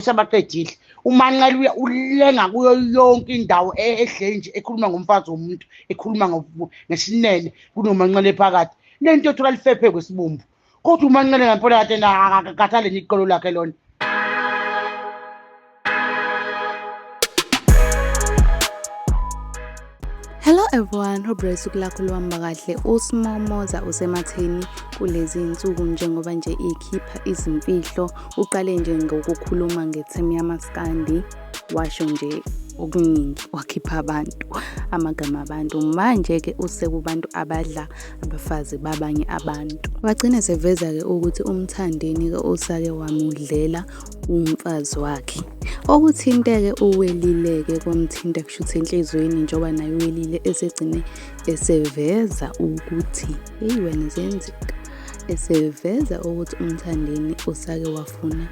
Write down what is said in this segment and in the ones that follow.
usebaqedile umanqela uya ulenga kuyo yonke indawo e-, edleni nje ekhuluma ngomfazi womuntu ekhuluma ngesinene kunomanqela ephakathi lento ethola lifephe kwesibumbu kodwa umanqela ngempela kade akakhathale niqolo lakhe lona Hello everyone, hope usuku lakho luhamba kahle. USimomoza usematheni kulezi insuku njengoba nje ikhipha izimfihlo. Uqale nje ngokukhuluma ngethemu yamaskandi washo nje okuningi wakhipha abantu amagama abantu manje-ke usekubantu abadla abafazi babanye abantu wagcine seveza-ke ukuthi umthandeni-ke usake wamudlela umfazi wakhe okuthinteke uwelileke kwamthinta kushuthi enhliziyweni njengoba naye uwelile esegcine eseveza ukuthi eyi wena ziyenzeka eseveza ukuthi umthandeni usake wafuna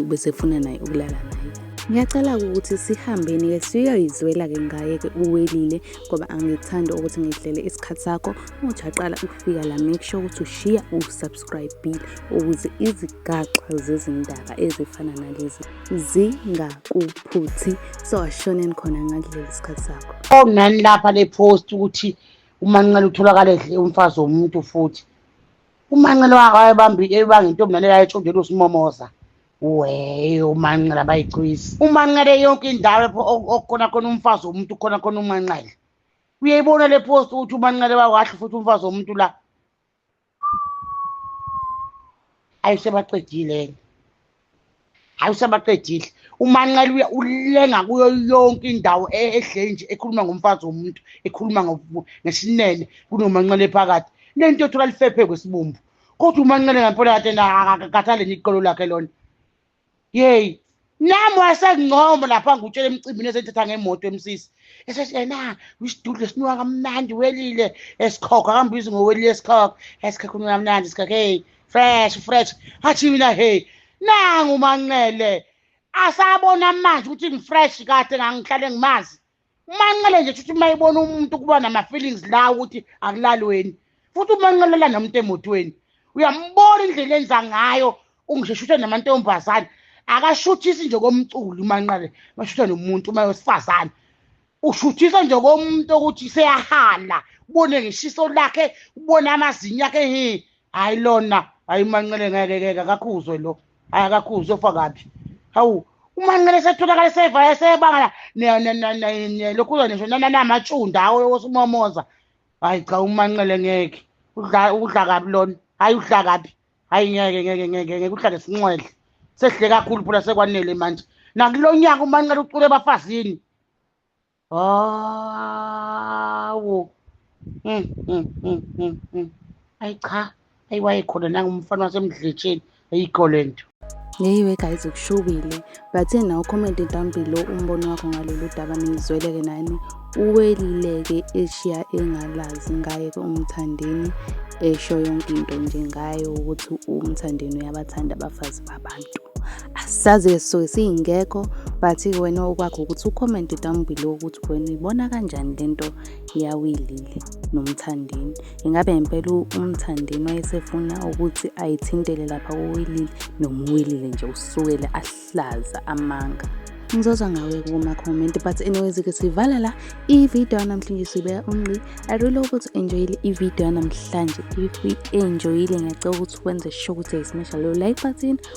besefuna naye ukulala naye ngiyacela-ke ukuthi sihambeni-ke siyoyizwela-ke ngaye-ke uwelile ngoba angikuthandi ukuthi ngidlele isikhathi sakho muthi aqala ukufika la make sure ukuthi ushiya usubs subscribe ukuze izigaxa zezindaba ezifana nalezi zingakuphuthi so ashoneni khona ngakuleli sikhathi sakho onani lapha le post ukuthi umancela utholakala edle umfazi womuntu futhi umancela wayebambi ebanga intombi nale yayetshondela usimomoza weyo umancela bayicwisi umancele yonke indawo lapho okhona khona umfazi womuntu khona khona umancele uyayibona le post ukuthi umancele wakahle futhi umfazi womuntu la ayi usebaqedile yena hayi usebaqedile umanqele uya ulenga kuyo yonke indawo e-, ehle nje ekhuluma ngomfazi womuntu ekhuluma ngesinene kunomanqele phakathi le nto yothola lifephe kwesibumbu kodwa umanqele ngempela kade kakhathale niqolo lakhe lona yeyi nami wasengincoma lapha ngutshela emcimbini esethetha ngemoto emsisi esethi yena wisidudle sinuka kamnandi welile esikhokho akambizi ngowelile esikhokho esikhokho unuka kamnandi esikhokho hey fresh fresh athi mina hey nangu manqele asabona manje ukuthi ngifresh kade ngangihlale ngimazi umanqele nje shuthi uma ibona umuntu kuba nama-feelings la ukuthi akulalweni futhi umanqelela nomuntu emotweni uyambona indlela enza ngayo ungisheshuthe namantombazane akashuthisi nje komculi umanqele mashutha nomuntu uma wesifazane ushuthisa nje komuntu ukuthi seyahala ubone ngeshiso lakhe ubone amazinyo akhe he hayi lona hayi umanqele ngeke keke akakhuzwe lo hayi akakhuzwe ufa kabi hawu umanqele setholakala sevaya sebangala lokhu uza nisho nananamatshunda awo yokusumomoza hayi cha umanqele ngeke udla udla kabi lona hayi udla kabi hayi ngeke ngeke ngeke ngeke uhlale sinxwedle sehle kakhulu phela sekwanele manje nakulo nyaka umanqele ucule ebafazini hawu mm, mm, mm, ayi cha ayi wayekhona nangumfana wasemdletsheni ayikho le nto Ngeyiwe guys kushubile bathe nawo comment down below umbono wakho ngalolu daba nizweleke nani uwelileke eshiya engalazi ngaye umthandeni esho yonke into nje ngaye ukuthi umthandeni uyabathanda abafazi babantu sazi esisuke siyingekho but wena okwakho ukuthi ucomment down below ukuthi wena uyibona kanjani lento yawilile nomthandeni ingabe ngempela umthandeni wayesefuna ukuthi ayithintele lapha kuwilile noma uwilile nje usukele ahlaza amanga ngizozwa ngawe kuma-comment but anyways-ke sivala la ividiyo yanamhlanje sibeka unqi i really hope ukuthi enjoyile ividiyo yanamhlanje if enjoyile ngiyacela ukuthi wenze sure ukuthi ayismesha leyo like button